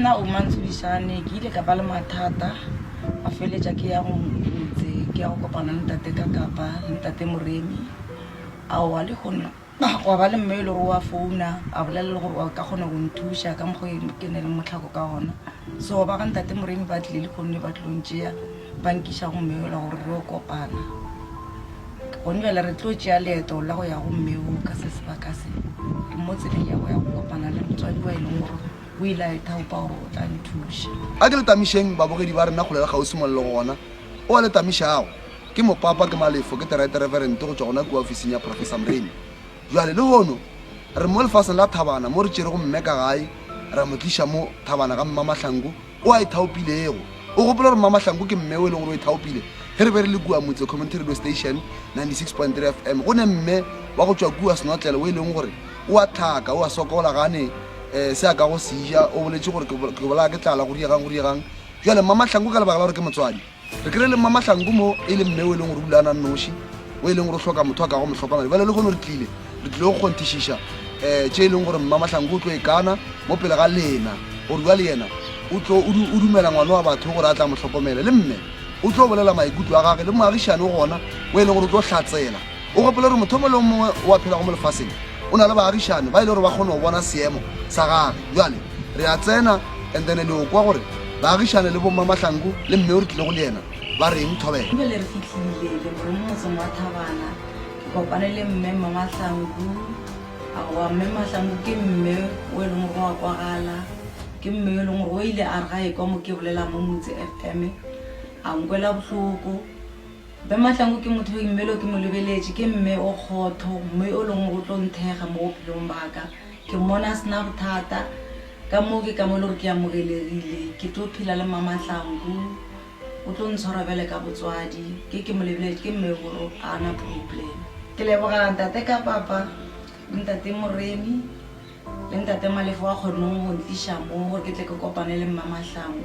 Nna Omantso Dishane ke ile ka ba le mathata a feletša ke ya go motse ke ya go kopana le ntate ka kapa le ntate Moremi aowa le gona gwa ba le mme e le gore wa founa a bolela le gore wa ka kgona go nthuša ka mokgwa e ke ne le motlhako ka gona so ba ga ntate Moremi ba tlile le gonne ba tlilong tšea ba nkiša go mme ola gore re o kopana gone bjale re tlo tšea leeto la go ya go mme o ka se sebaka se mo tseleng ya go ya go kopana le motswadi wa e leng gore O ile a ithaopa gore o tla nthuša. A ke le tamišeng babogedi ba rena kgole le kgauswi mo le lego gona. O a le tamišago ke mopapa, ke malefo, ke terete reverente go tšwa gona kua ofising ya Professor Mremi. Bjale, lehono, re mo lefaseng la Thabana mo re tšerego mme ka gae ra mo tliša mo, Thabana ga Mmamahlangu o a ithaopilego. O gopola gore Mmamahlangu ke mme o e lego gore o ithaopile ge re be re le kua Motse Community Radio Station 96.3 FM, go ne mme wa go tšwa kua Senotlele o e lego gore O a hlaka, o a sokola, ga a ne um se a ka go se ja. O boletše gore, Ke, ke bolaya ke tlala, go diegang, go diegang. Bjale, Mmamahlangu, ka lebaka la gore ke motswadi, re kry-ile Mmamahlangu mo, e le mme o e leng gore o dula a na nnoši, o e leng gore o hloka motho a kago mo hlokomela. Bjale lehono re tlile, re tlile go kgonthišiša um tše e leng gore Mmamahlangu o tlo e kana mo pele ga lena, gore bjale yena o tlo, o, o dumela ngwana wa batho gore a tla mo hlokomele. Le mme o tlo bolela maikutlo a gage, le moagišani o gona o e leng gore o tlo hlatsela. O gopola gore motho o mongwe le o mongwe o a phela go mo lefaseng o na le baagišani ba e le gore ba kgone go bona seemo sa gage. Bjale re a tsena and then le o kwa gore baagišani le bomma Mahlangu le mme o re tlilego le yena ba reng. Thobela. Bjale re fihlile le gore mo motseng wa Thabana ke kopane le mme mma Mahlangu. Aowa mme Mahlangu ke mme o e leng gore o a kwagala. Ke mme o e leng gore o ile a re ga e kwa mo ke bolela mo Motse FM a nkwela bohloko. Mme Mahlangu ke motho yo immelo ke mo lebeletše, ke mme o kgotho, mme o lengwe go tlo nthekga mo bophelong ba ka. Ke mmona a se na bothata, ka moo ke ka mo e le gore ke amogelegile. Ke tlo phela le Mma Mahlangu, o tlo ntshwara bjale ka botswadi. Ge ke mo lebeletše, ke mme gore ga a na problem. Ke leboga Ntate Kapapa, le Ntate Moremi, le Ntate Malefe wa kgonne go ntliša mo gore ke tle ke kopane le Mma Mahlangu.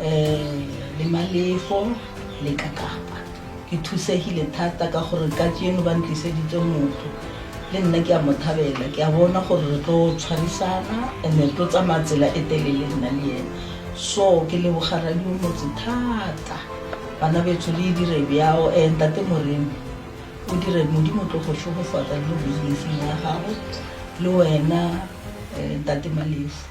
um le Malefo le ka Kapa. Ke thusegile thata ka gore kajeno ba ntliseditse motho le nna ke a mo thabela ke a bona gore re tlo tshwarisana and re tlo tsamaya tsela e telele nna le yena so ke leboga radio motse thata bana betsho le e dire bjao um ntate moremi o dire modimo tlo go šogofatsa le mo businesseng ya gago le wena um ntate malefo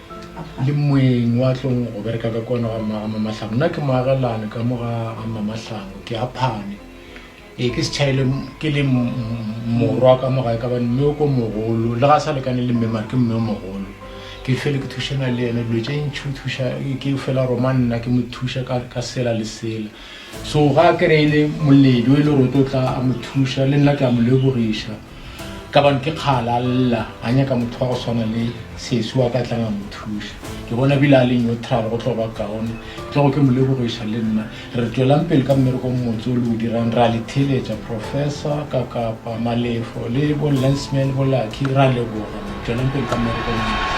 le moeng wa tlong go bereka ka kwana ga mmaga mamatlhango nna ke moagelane ka mo ga ga mamatlhango ke aphane ee ke setšhaele ke le morwa ka mo gae ka bane mme o ko mogolo le ga sa lekane le mme mare ke mme o mogolo ke fele ke thušana le ene dilo tše ntšhi o thuša ke fela roma nna ke mo thuša ka sela le sela so ga kere e le moledi o e le gore o tlo tla a mo thuša le nna ke a mo lebogiša ka bane ke kgala a lla a nyaka motho wa go swana le sesi wa ka tlang a mo thuša ke bona bile a le neutral go tlo ba kaone tlogo ke mo lebogiša le nna re tswelang pele ka mmereko motse o le o dirang ra le theletša professor ka kapa malefo le bo lensman bo lucky ra leboga tswelang pele ka mmereko motse